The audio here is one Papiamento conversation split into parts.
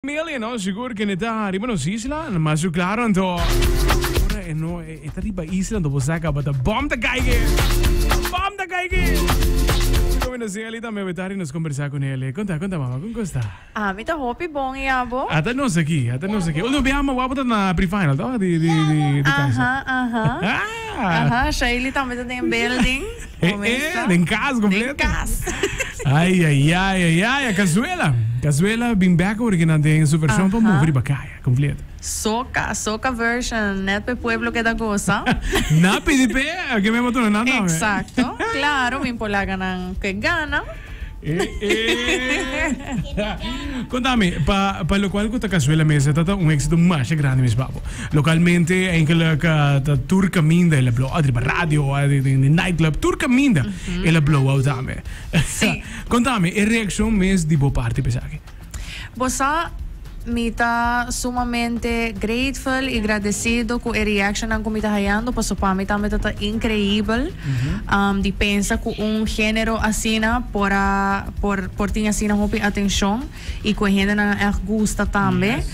Familia no sigur kende ta riba nos isla lo mas su klaro anto ora e no e ta riba isla anto bo sa kabata bom ta kaige bom ta kaige mi komi no sin Eli tambe we tari nos kombersa ku nele konta konta mama kon kosta Ah mi ta hopi bon i abo. Ata nos aki ata nos aki ultimo biaha mawapu ta na prefinal toh di di di di casa Aha aha aha Shailey tambe ta den e building. Comenzá. Den cas completo. Den cas. Ay, ay, ay, ay, ay. Cazuela. Cazuela bin back hoor que nan den super show pa Aha. mover riba kaya completo. Soca, soca version. Net pe pueblo keda goza. Na pidi pe, ke men motor nan dan. Exacto. Claro, bin por laga nan ke gana. Contami, pa pa locual cu ta Cazuela mes e ta un exito masha grandi mes babo. Localmente enkele ca ta tur caminda el a blowa riba radio o den e night club tur caminda el a blowao tambe. Contami e reaccion mes di bo parti pa esaki. Bo sa, mi ta sumamente grateful y gradecido cu e reactionnan cu mi ta hayando, paso pa mi tambe ta ta increibel um, di pensa cu un genero asina por a, por, por tin asina hopi atencion y cu e hendenan a echt gusta tambe.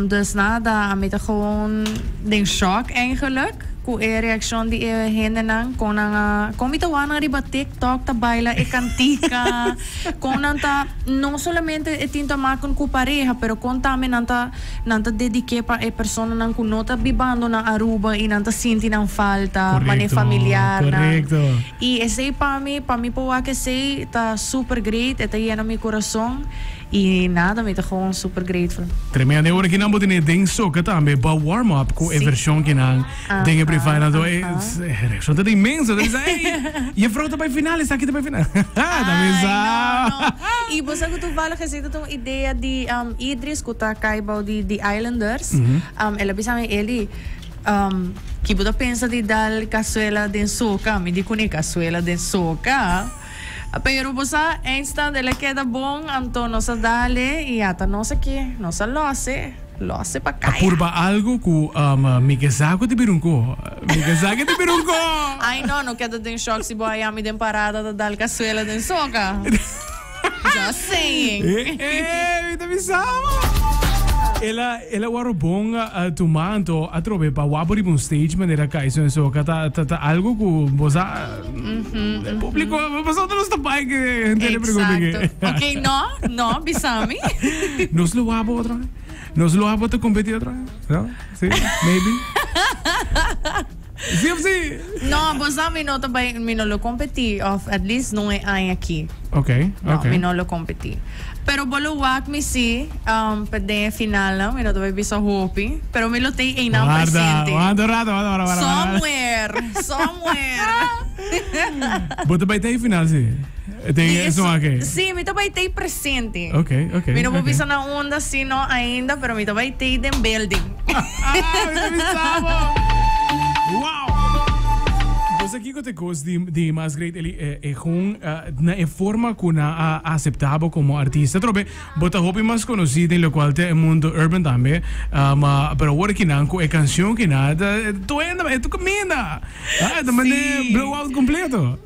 Dus nada, ami ta gewoon den shock eigenlik cu e reaccion di e hendenan con nan a, con mi ta wanan riba TikTok ta baila e cantica, con nan ta, no solamente e tin ta maken cu pareha, pero con tambe nan ta, nan ta dedique pa e personanan cu no ta bibando na Aruba y nan ta sinti nan falta, mane Correcto, familiarnan. correcto. Y esey pa mi, pa mi por wak esey ta super great, e ta yena mi corazon. Y nada mi ta gewoon super grateful. Tremendo e ora ki nan bo tene den soca tambe pa warm up cu e version ki nan den e Privada do e reaccion ta inmenso ta bisa ey jefrouw ta bay final esaki ta bay final ta bisa Y bo sa cu toevallig esey ta un idea di Idris cu ta cay bao di The Islanders el a bisa mi Eli ki bo ta pensa di dal cazuela den soca mi di cune cazuela den soca. Pero bo sa, eindstand el a keda bon, anto nos a dale y ata nos aki, nos a lose, lose pa A caya. purba algo cu mi ke sa cu ta bira un coho. Mi ke sa cu ta bira un coho. Ay no, no keda den shock si bo a yami den parada ta dal casuela den soca. Just saying. E e, mi ta bisa bo. El a, el a waro bon tuma, anto atrobe pa wap riba un stage manera caiso den soca ta, ta, ta algo cu bo sa. E publico abo pasobra nos ta bai ke henter e pregunta ke. Exacto. Ok, no, no, bisami. Nos lo wou abo otro haya. Nos lo abo ta competi otro haya. No? Si? Maybe? Si of si? No, bo sa mi no ta bai, mi no lo competi of at least no e haya aki. Ok, ok. No, mi no lo competi. Pero bo lo wak mi si, um, pa den e finalnan, mi no ta bay bisa hopi, pero mi lo tey eynan Warda, presente. wanta un rato, wanta, wara, wara, wara, wara. Somewhere, somewhere. Bo ta bay ta e final, si? E ten Di e es, son ake. sí, mi ta bay tey presente. Ok, ok, Mi no bo ok. bisa na unda, si no ainda, pero mi ta bay tey den building. Ah, mi ta bisa, bo. Wow! Kiko ta e kos di mas great eli egun na e forma ku nan a aseptá bo komo artista? Trobe, bo ta hopi mas konosí den lokual ta e mundu urban tambe, ma pero awor aki nan ku e kanshon ki nan ta tuenda bo e ta kaminda, e ta manda e blow out kompleto.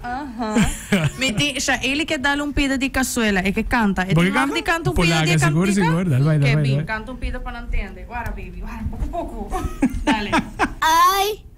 Mi tin sha eli ke dal un pida di kasuela e ke kanta e tin maf di kanta un pida di e kantika ke bin kanta un pida pa nan tende wara baby wara poku poku dale. Ai!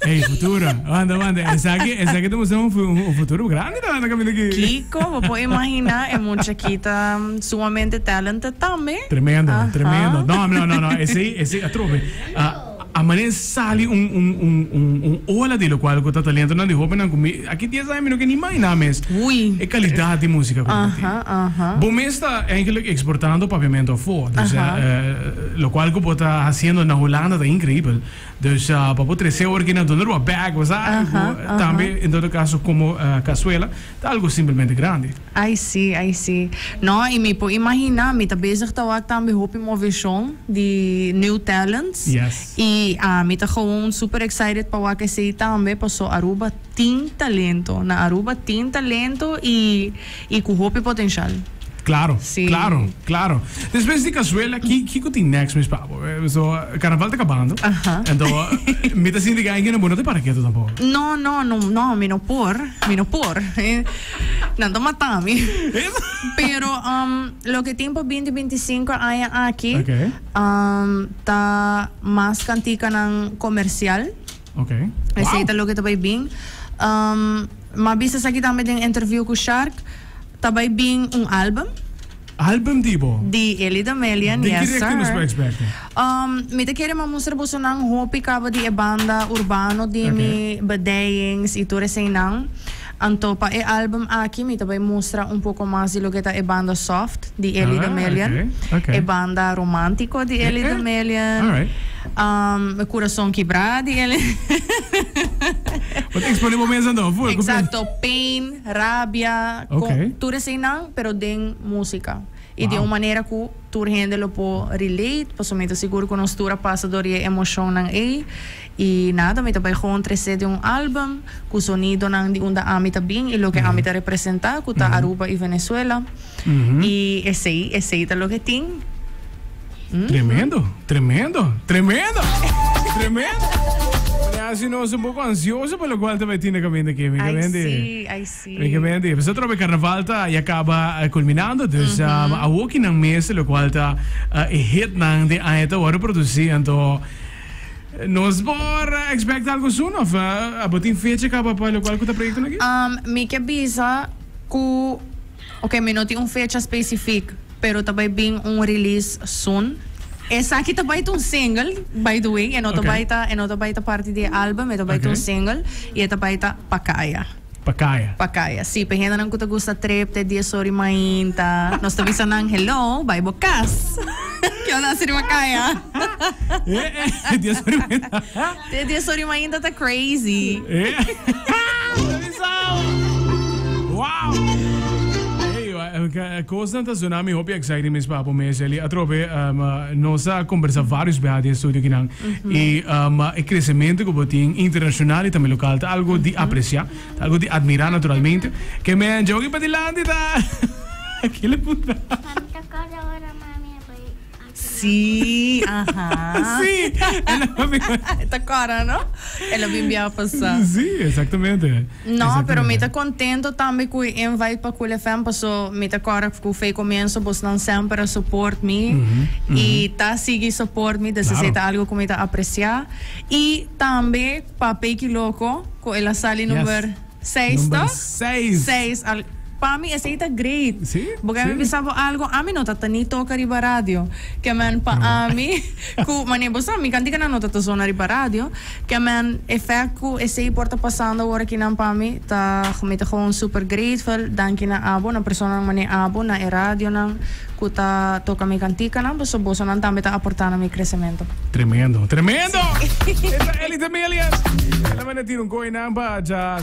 Ey futuro. Wanda wanda esaki esaki ta mustra un un futuro grandi na caminda aki. Kiko bo por imagina e mucha aki ta sumamente talented tambe. Tremendo Ahan. tremendo no no no no esey esey atrobe a manen sali un un un un un ola di locual cu ta talentonan di hobennan cu mi aki dies aña mi no ke ni imagina mes Ui. e calidad di musica cu nan ta tin. Ahan ahan. Bo mes ta eigenlijk exportando papiamento afo, dus Aha. locual cu bo ta haciendo na Holanda ta increibel. Dus pa bo trece ora ki na duna rua bag o sa algo tambe en todo caso como cazuela ta algo simplemente grandi. Ai si, ai si. No, y mi por imagina, mi ta bezig ta wak tambe hopi movecion di new talents y mi ta gewoon super excited pa wak esey tambe paso Aruba tin talento, na Aruba tin talento y. Y cu hopi potencial. Claro, claro, claro. Despues di Cazuela, ki, kico tin next mes pa bo? So, Carnaval ta cabando. Ento, mi ta sinti gana bo no ta para keto tampoco. No, no, no, no, mi no por, mi no por. Nan ta mata mi. Pero, um, loke tin pa binti binti sinku aña aki, um, ta mas canticanan comercial. Okay. Esei ta loke ta bai bin. Um, ma bisa saki tambe den interview ku Shark, ta bai bin un album. Album di bo? Di Eli Damelian, yes sir. Di nos expecta? Um, mi te kere ma mustra boso nan hopi kaba di e banda urbano di mi, bedeyings i tur esei nan. Anto pa e album aki mi ta bai mustra un poko mas di loke ta e banda soft di Ellie the Million, e banda romantico di Ellie the Million, e curason kibra di Ellie Exacto, pain, rabia, tur eseinan pero den musica y di un manera cu tur hende lo por relate pasobra mi ta sigur cu nos tur a pasa door di e emocionnan ey. I nada, mi ta bai gewoon trece di un album cu sonidonan di unda ami ta bin y loke ami ta representa, cu ta Aruba y Venezuela. Y esey, esey ta loke tin. Tremendo, tremendo, tremendo, tremendo! Mira haci nos un poco ansioso pa locual ta bai tin na caminda aki, mi cabendi. Ay sí, ay sí. Mi cabendi. Pasa trobe carnaval ta ya caba culminando, dus awokinan mes locual ta e hitnan den aña ta worde produci, anto. Nos por expect algo soon of abo tin fecha caba pa locual cu ta proyectonan aki? Um, mi ke bisa ku ok, mi no tin un fecha specifiek, pero ta bai bin un release soon. Esaki ta bai ta un single, by the way, e no ta bai ta, e no ta bai ta parti di e album, e ta bai ta un single, y e ta bai ta Pacaya. Pacaya. Pacaya, si. P'e hendenan cu ta gusta trep te dies ora di mainta, nos ta bisa nan, Hello, bai bo cas. Kico ta hasi di Pacaya? Te dies ora di mainta. Te dies ora di mainta ta crazy. Bo ta bisa bo. Wow! Ey, cosnan ta suna mi hopi exciting mes, papo. Mes, Eli, atrobe nos a combersa varios beha den studio aki nan. I e kresementu ku bo tin internashonal i tambe lokal ta algu di apresiá, ta algu di admirá naturalmente. Ke mea djoki pa dilanti ta kila ku ta. No, pero mi ta contento tambe cu e invite pa Cool FM paso mi ta kòrda cu fei comienzo bosnan semper a support mi y ta sigui support mi des esey ta algo cu mi ta aprecia y tambe pa Peky Loco cu el a sali number seis to? seis al pa mi esey ta great bo k'e mi bisa bo algo ami no ta ta ni toca riba radio kemen pa ami cu mane bo sa mi kantika nan no ta ta zona riba radio. Ke men efect ku esei por ta pasando ora kinan pa mi ta mi ta gewoon super grateful danki na abo na personanan mane abo na e radionan ku ta toka mi kantikanan paso bosonan tambe ta aporta na mi kresemento. Tremendo, tremendo! Esta Ellie Demilius. El a manda tira un koe nan pa dja.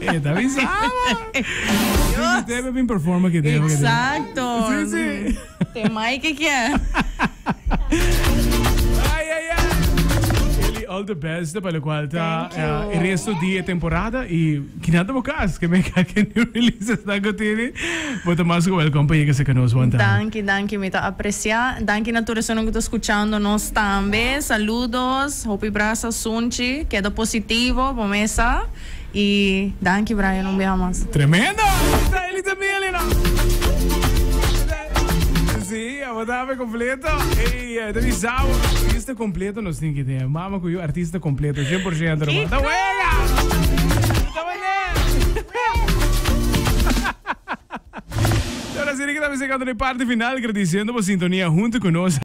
Eta mi saba. Dios. Debe bin performa que debe. Exacto. Sí, sí. Te mai que kia. Ay, ay, ay. Eli, all the best para lo cual ta uh, el resto de temporada y que nada más cas que me cae que new releases na go tiene. Bota más que welcome para llegar a que nos want. Dankie, dankie, me ta aprecia. Dankie na tu resonan que ta escuchando nos también. Saludos. Hopi brasa sunchi keda positivo bo mesa y danki Brian un beha mas. Tremendo! Israelita Milena! Si, abo ta awe completo. Ey, ta bisa bo. Artista completo nos tin ki tin. E mama cu yu artista completo, cien por ciento no mas. Ta wega! Ta wene! Ora si di kita bisa llegando na e parti final, agradiciendo bo sintonia hunto cu nos.